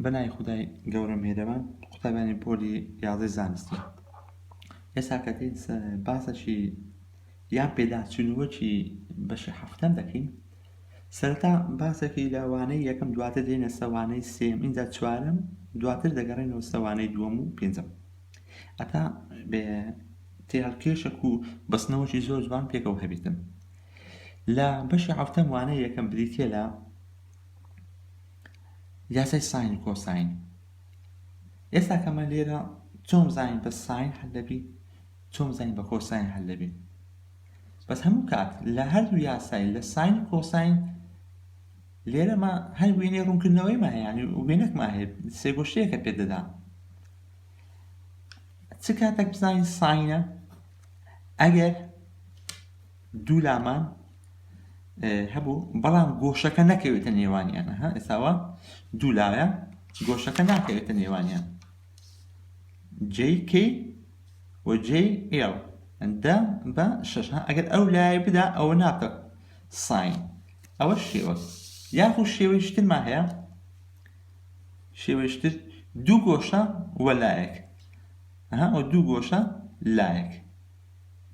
بە ناوی خودای گەورە میهرەبان قوتابیانی پۆلی یازدەی زانستی ئێستا کە دێین باسەکی یان پێداچوونەوەکی بەشی هەفتەم دەکەین سەرەتا باسەکی لە وانەی یەکەم دواتر دێنە سەوانەی سێم ئینجا چوارەم دواتر دەگەڕێنەوە سەوانەی دووەم و پێنجەم ئەتا بێ تێهەڵکێشێک و بەستنەوەکی زۆر جوان پێکەوە هەبێتن لە بەشی هەفتەم وانەی یەکەم بریتە لە یاسای ساین و کۆساین ئێستا کە من لێرە چۆن بزانین بە ساین حل دەبی چۆن بزانین بە کۆساین حل دەبی بەس هەموو کات لە هەردوو یاسای لە ساین و کۆساین لێرەما هەر وێنەی ڕوونکردنەوەی مایانی وێنەکما هەیە سێگۆشەیەکە پێ دەدا چ کاتێک بزانین ساینە ئەگەر دوو لامان هەبوو بەڵام گۆشەکە نەکەوێتە نێوانیان ها ئێساوە دوو لایە گۆشەکە ناکەوێتە نێوانیان JK و JL دە بە شش ها ئەگەر ئەو لایە بدا ئەوە ناکە ساین ئەوە شێوە یاخو شێوەیشترمان هەیە شێوەیشتر دوو گۆشە وە لایەک ها ئەو دوو گۆشە لایەک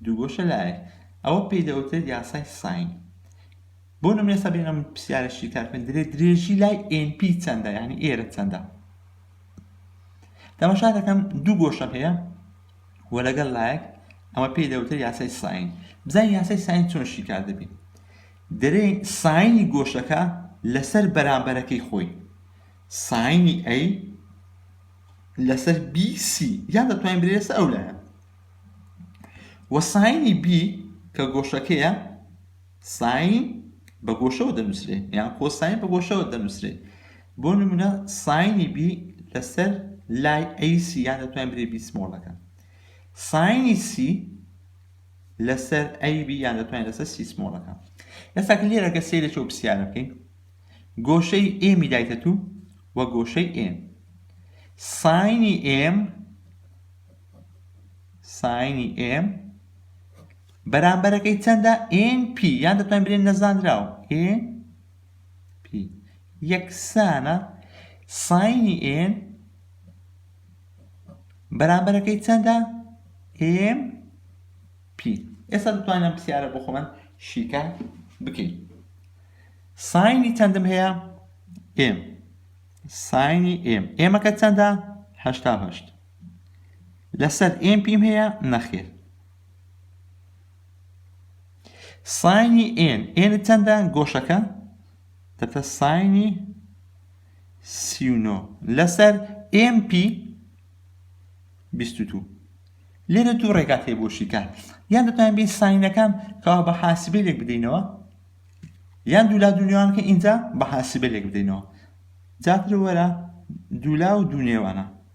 دووگۆشە لایەک، ئەوە پێی دەوترێت یاسای ساین. بۆ نمونە ئێستا بێنە پرسیارە شیکار بکەین دەرێت درێژی لای NP چەندە یعنی ئێرە چەندە تەماشا دەکەم دوو گۆشەم هەیە و لەگەڵ لایەک ئەمە پێی دەوتە یاسای ساین بزانین یاسای ساین چۆن شیکار دەبین دەرێ ساینی گۆشەکە لەسەر بەرامبەرەکەی خۆی ساینی ئەی لەسەر بیسی یان دەتوانین برێسە ئەو لایە وە ساینی B کە گۆشەکەیە ساین بە گۆشەوە دەنووسرێت یان کۆساین بە گۆشەوە دەنووسرێت بۆ نمونە ساینی B لەسەر لای AC یان دەتوانین بری B سمۆڵەکە ساینی C لەسەر AB یان دەتوانین لەسەر C سمۆڵەکە ئێستا کە لێرە کە سەیرە چۆ پرسیارە بکەین گۆشەی M دایتە تو و گۆشەی M ساینی M ساینی ئێم بەرامبەرەکەی چەندە ئێن پی یان دەتوان برێن نەزانراو ئێن پی یەکسانە ساینی ئێن بەرامبەرەکەی چەندە ئێم پی ئێستا دەتوانم پرسیارە بۆ خۆمان شیکە بکەین ساینی چەندم هەیە ئێم ساینی ئێم ئێمەکە چەندە هەشتا هەشت لەسەر ئێم پیم هەیە نەخێر ساینی ئێن ئێن چەندە گۆشەکە دەتە ساینی سیونۆ لەسەر ئێم پی بیستو لێرە دوو ڕێگات هەیە بۆ شیکار یان دەتوانین بین ساینەکان کەوا بە حاسبی لێک بدەینەوە یان دوولا دونیوانکە ئینجا بە حاسبە لێک بدەینەوە جاتر وەرە دوولا و دوونێوانە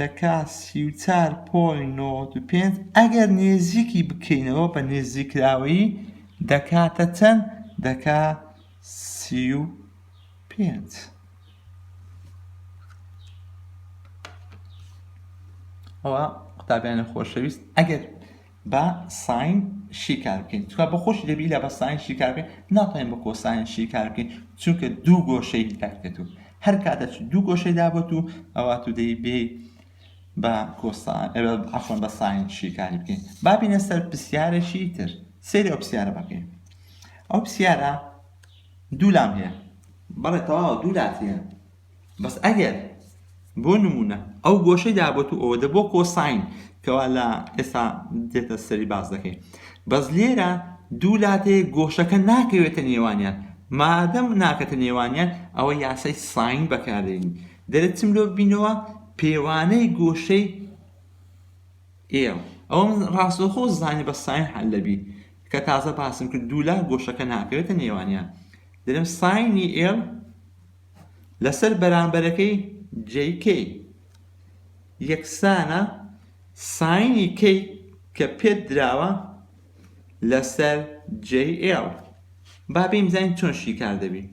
دەکا سی و چوار پۆینت نەوەد و پێنج ئەگەر نێزیکی بکەینەوە بە نێزیکراوەیی دەکاتە چەند دەکا سی و پێنج ئەوە قوتابیانی خۆشەویست ئەگەر با ساین شیکار بکەین تکا بۆ خۆشی دەبی لە بە ساین شیکار بکەین ناڵێن بە کۆساین شیکار بکەین چونکە دوو گۆشەی دەکرێت و هەر کاتە دوو گۆشەی دابێت و ئەوە تو دەی بێ بە کۆسان ئەفۆن بە ساین شیکاری بکەین بابینە سەر پرسیارێکی تر سری ئەو پرسیارە بەکەین ئەو پرسیارە دوو لام هەیە بەڵێ تەواو دوو لات هەیە بەس ئەگەر بۆ نمونە ئەو گۆشەی دابێت و ئەوەدە بۆ کۆساین کەوا لە ئێستا دێتە سەری باس دەکەین بەس لێرە دوو لاتێ گۆشەکە ناکەوێتە نێوانیان مادەم ناکەتە نێوانیان ئەوە یاسای ساین بەکاردێنین دەرێت چم لۆ بینەوە پێوانەی گۆشەی ئێڵ ئەوم ڕاستەخۆ زانی بە ساین حل لەبی کە تازە باسم کرد دوولا گۆشەکە ناکەوێتە نێوانیان دەرم ساینی ئێڵ لەسەر بەرامبەرەکەی جەی کەی یەکسانە ساینی کەی کە پێت دراوە لەسەر جەی ئێڵ با بیم زانین چۆن شیکار دەبی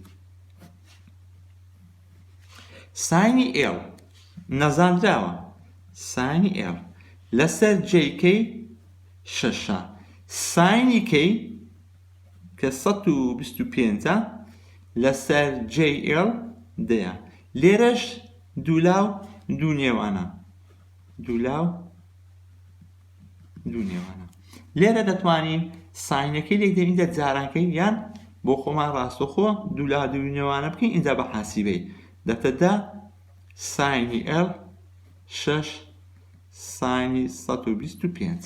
ساینی ئێڵ نەزانراوە ساینی ئێڵ لەسەر جەی کەی شەشە ساینی کەی کە سەد و بیست و پێنجە لەسەر JL دەیە لێرەش دوولاو دوو نێوانە دوولاو دوو نێوانە لێرە دەتوانین ساینەکەی لێک دێن ئینجا جارانکەی یان بۆ خۆمان ڕاستەخۆ دوولا دوو نێوانە بکەین ئینجا بە حاسیبەی دەتەدا ساینی L شەش ساینی 125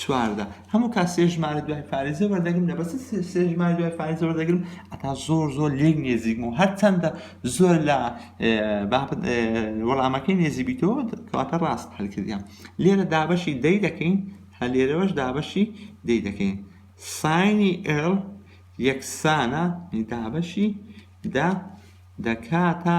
چواردە هەموو کات سێ ژمارە دوای فارێزە وەردەگرم لە بەس سێ ژمارە دوای فارێزە وەردەگرم ئەتا زۆر زۆر لێک نێزیکم و هەرچەندە زۆر لە وەڵامەکەی نێزیبیتەوە کەواتە ڕاست هەلکردیان لێرە دابەشی دەی دەکەین هە لێرەوەش دابەشی دەی دەکەین ساینی ئێڵ یەکسانە دابەشی دا دەکاتە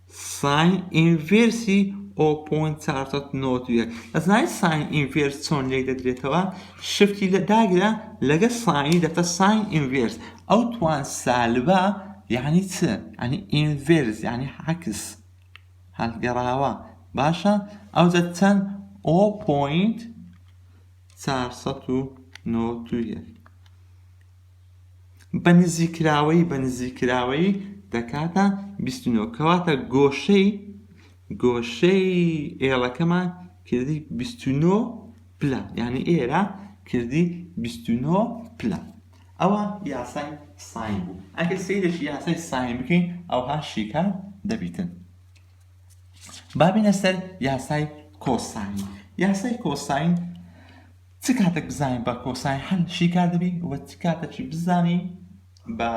ساین ئینڤێرسی ئۆ پۆینت چوار سەد و نەوەد و یەک ئەزانی ساین ئینڤێرس چۆن لێک دەدرێتەوە شفتی لە داگرە لەگە ساینی دەکە ساین ئینڤێرس ئەو توان سالبە یعنی چ ئەنی ئینڤێرس یعنی عکس هەڵگەڕاوە باشە ئەوجە چەند ئۆ پۆینت چوار سەد و نەوەد و یەک بە نزیککراوەیی بە نزیککراوەیی دەکاتە بیست و نۆ کەواتە گۆشەی گۆشەی ئێڵەکەمان کردی بیست و نۆ پلە یعنی ئێرە کردی بیست و نۆ پلە ئەوە یاسای ساین بوو ئەگەر سیرێکی یاسای ساین بکەین ئەوها شیکار دەبیتن بابینە سەر یاسای کۆساین یاسای کۆساین چ کاتەک بزانین بە کۆساین هەل شیکار دەبین و چ کاتەکی بزانین بە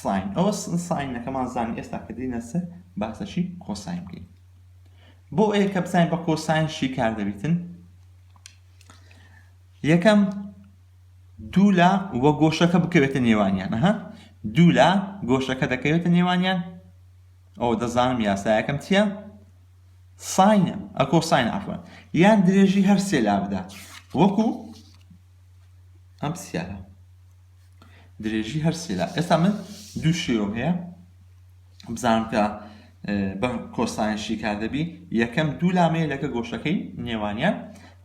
ساین ئەوە ساینەکەمان زانین ئێستا کە دینە سەر باسەکی کۆساین بکەین بۆ ئەیە کە بزانین بە کۆساین شیکار دەبیتن یەکەم دوو لە وە گۆشەکە بکەوێتە نێوانیان ها دوو لە گۆشەکە دەکەوێتە نێوانیان ئەو دەزانم یاسایەکەم چییە ساین ە کۆساین عەفوەن یان درێژی هەر سێ لا بدات وەکو ئەم پرسیارە درێژی هەر سێ لا ئێستا من دوو شێوەم هەیە بزانم کە بە کۆساین شیکار دەبی یەکەم دوو لامەیە لەکە گۆشەکەی نێوانیان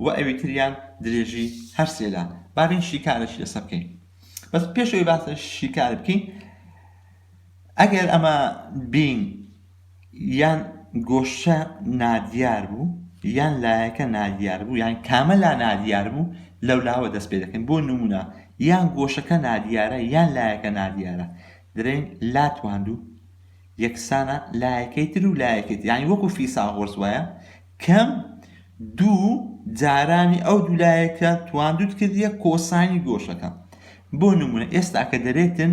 و ئەوی تریان درێژی هەر سێ لا بابین شیکارەشی لەسەر بکەین بەس پێشەوەی باسە شیکار بکەین ئەگەر ئەمە بین یان گۆشە نادیار بوو یان لایەکە نادیار بوو یان کامە لا نادیار بوو لەولاوە دەست پێ دەکەین بۆ نمونە یان گۆشەکە نادیارە یان لایەکە نادیارە درێن لا تواندوو یەکسانە لایەکەی تر و لایەکەی تر یعنی وەکو فیساغۆرس وایە کەم دوو جارانی ئەو دوو لایەکە تواندوت کردیە کۆسانی گۆشەکە بۆ نمونە ئێستا کە دەرێتن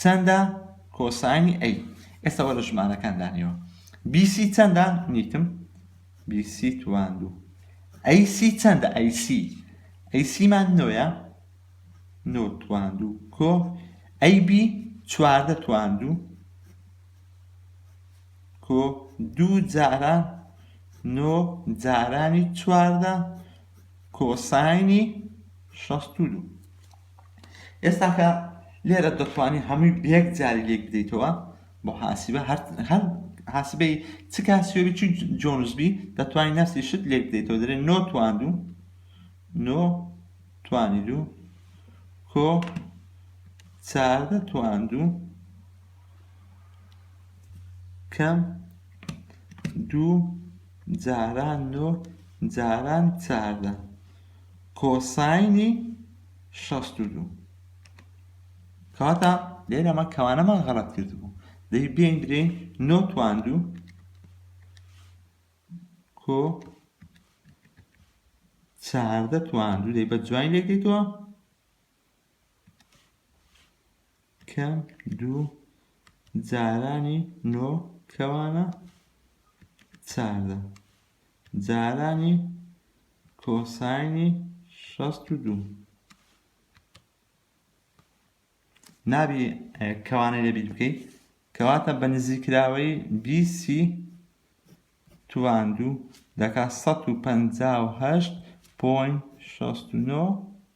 چەندە کۆساینی ئەی؟ ئێستا وەرە ژمارەکان دانەوە بی سی چەندە نیتم بی سی توان دوو ئەی سی چەندە ئەی سی ئەی سیمان نۆیە نۆ توان دوو کۆ ئەی بی چواردە توان دوو کۆ دوو جارە نۆ جارانی چواردە کۆساینی شەست و دوو ئێستاکە لێرە دەتوانی هەمووی بە یەک جاری لێک بدەیتەوە بۆ حاسبە هەر هەر حاسبەی چ کاسیۆبی چ جۆنزبی دەتوانین نفسی شت لێک بدەیتەوە دەرێ نۆ تواندوو نۆ توانی دوو کۆ چاردە تواندوو کەم دوو جاران نۆ جاران چاردە کۆساینی شەست و دوو کەواتە لێرە ئەمە کەوانەمان غەڵەت کردبوو دەی بێین برێین نۆ تواندوو کۆ چاردە تواندوو دەی بە جوین لێکەیتەوە کەم دوو جارانی نۆ کەوانە چاردە جارانی کۆساینی شەست و دوو نابی کەوانەی لەبییر بکەیت کەواتە بە نزیکراوەی بیسی تواندوو دەکات 158.69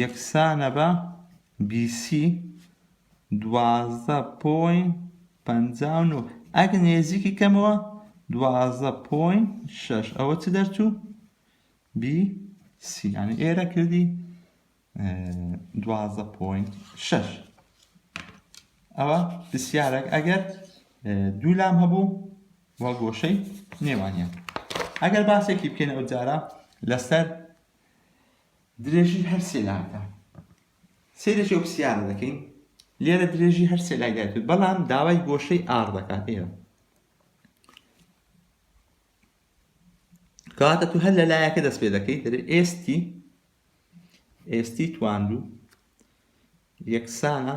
یەکسانە بە BC دوازدە پۆین پەنجا و نۆ ئەگ نێزیکی کەمەوە دوازدە پۆین شەش ئەوە چ دەرچوو بی سی یعنی ئێرە کردی دوازدە پۆین شەش ئەوە پرسیارێک ئەگەر دوو لام هەبوو و گۆشەی نێوانیان ئەگەر باسێکی بکەین ئەو جارە لەسەر درێژی هەر سێ لاکە سەیرە چێ پرسیارە دەکەین لێرە درێژی هەر سێ لاگای کرد بەڵام داوای گۆشەی ئار دەکات ئێرە کاتە تو هەر لە لایەکە دەست پێ دەکەیت دەێ ئێستی ئێستی تواندو یەکسانە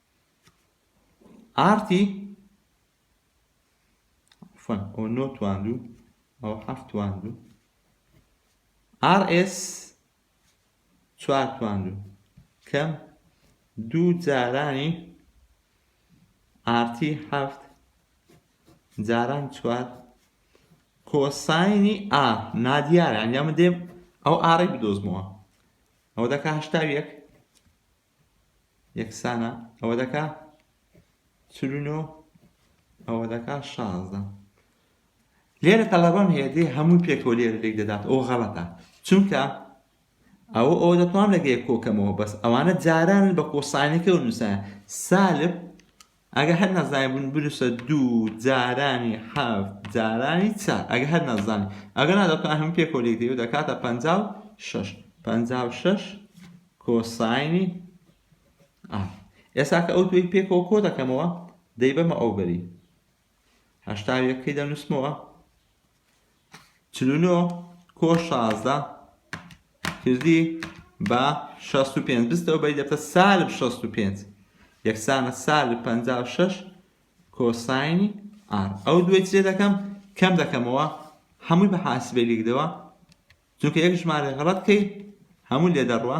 ئارتی فن ئەو نۆ تواند و ئەو حەفت تواند و ئار ئێس چوار تواند و کەم دوو جارانی ئارتی حەفت جاران چوار کۆساینی ئا نادیارە ئەنجامە دێم ئەو ئاڕی بدۆزمەوە ئەو دەکە هەشتا یەک یەکسانە ئەوە دەکا چل و نۆ ئەوە دەکا شازدە لێرە تەڵەبەم هەیە دێ هەمووی پێکەوە لێرە لێک دەدات ئەو غەڵەتە چونکە ئەوە ئەوە دەتوانم لەگەیە کۆکەمەوە بەس ئەوانە جاران بە کۆسانەکە و نووسە سالب ئەگە هەر نازانی بن بنووسە دوو جارانی حەفت جارانی چار ئەگە هەر نازانی ئەگە نادەتوان هەموو پێکەوە لێک دەیەوە دەکاتە پەنجا و شەش پەنجا و شەش کۆساینی ئا ئێستا کە ئەو دوێک پێکەوە کۆ دەکەمەوە دەیبەمە ئەو بەری هەشتا یەکەی دەنووسمەوە چل و نۆ کۆ شازدە کردی بە شەست و پێنج بستەوە بەی دەبتە سالب شەست و پێنج یەکسانە سالب پەنجا و شەش کۆساینی ئار ئەو دوێ چێ دەکەم کەم دەکەمەوە هەمووی بە حاسبێ لیکدەوە چونکە یەک ژمارە غەڵەت کەی هەموو لێ دەڕوە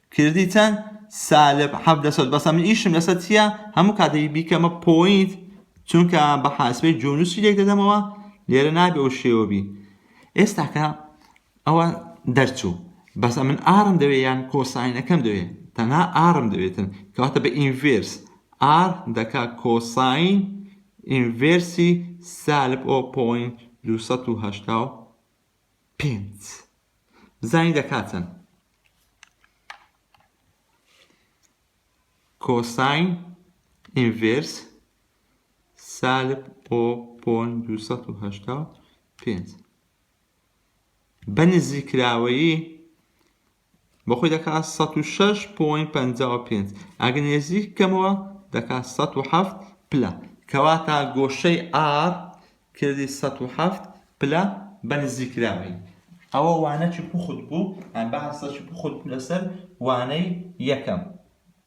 کردی چەن سالب حەڤدە سەد بەسە من ئیشم لەسە چیە هەموو کاتێکی بیکەمە پۆینت چونکە بە حاسبەی جۆنوسی لێک دەدەمەوە لێرە نابێ ئەو شێوە بی ئێستاکە ئەوە دەرچوو بەس من ئارم دەوێ یان کۆساینەکەم دەوێ تەنها ئارم دەوێتن کەواتە بە ئینڤێرس ئار دەکا کۆساین ئینڤێرسی سالب ئۆ پۆین دوو سەد و هەشتا و پێنج بزانین دەکات چەند کۆساین ئینڤێرس سالب ئۆ پۆن دووسەد و هەشتا و پێنج بە نزیکراوەیی بۆ خۆی دەکا سەد و شەش پۆین پەنجا و پێنج ئەگەر نێزیک کەمەوە دەکا سەد و حەفت پلە کەواتە گۆشەی ئار کردی سەد و حەفت پلە بە نزیکراوی ئەوە وانەکی پوخت بوو باسەکی پوخت بوو لەسەر وانەی یەکەم.